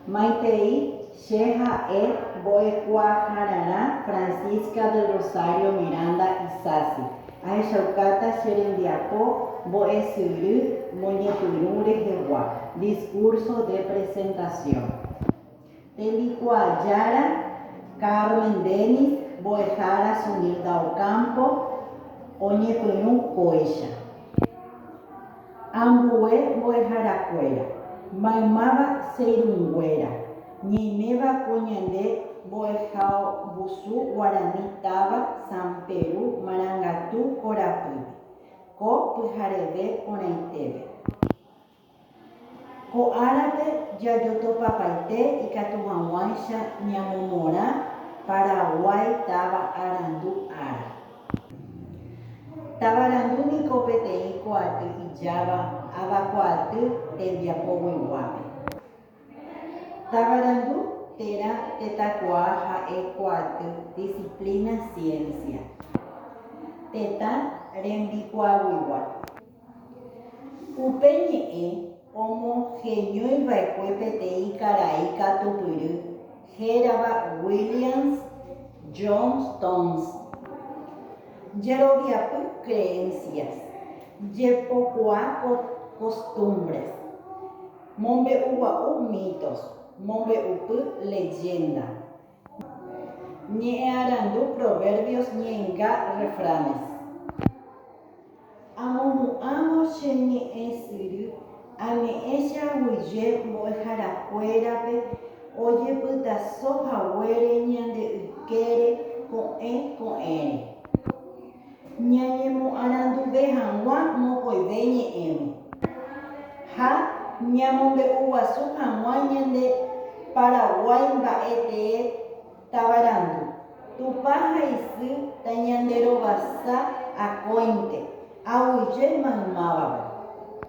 Maitei che ha'e mbo'ekuaahararã Francisca del Rosario Miranda Isasi. Ahechaukáta che rembiapo mbo'esyry moñepyrũ rehegua, discurso de presentación. Tembikuaa Jára, Carmen Dennis, mbo'ehára Sunilda Ocampo, oñepyrũ kóicha. Ambue mbo'eharakuéra, maymáva che irũnguéra, ñaiméva ko ñande mbo'ehaombusu guarani táva San Peru Marangatu korapýpe, ko pyhareve porãitépe. Ko árape jajotopapaite ikatu hag̃uáicha ñamomorã Paraguái táva arandu ára. Tavarandu niko peteĩ ko'aty ijáva avakuaaty tembiapogueguápe. Tavarandu térã tetãkuaa ha'e ko'aty disiplína siénsia tetã rembikuaaguigua. Upe ñe'ẽ omoheñóiva'ekue peteĩ karai katupyry hérava Williams Johnstone's jeroviapy creencias, jepokuaa costumbres, mombe'ugua'u mitos, mombe'upy leyenda. Ñe'ẽarandu Proverbios ñe'ẽnga refranes. Amohu'ãvo che ñe'ẽ syry, añe'ẽ che aguyje mbo'eharakuérape ojepytaso haguére ñande ykére ko'ẽ ko'ẽre. Ñañemoaranduve hag̃ua mokõive ñe'ẽme ha ñamombe'uguasu hag̃ua ñande Paraguái mba'e tee tavarandu. Tupã ha isy tañanderovasa akóinte, aguyje maymávagui.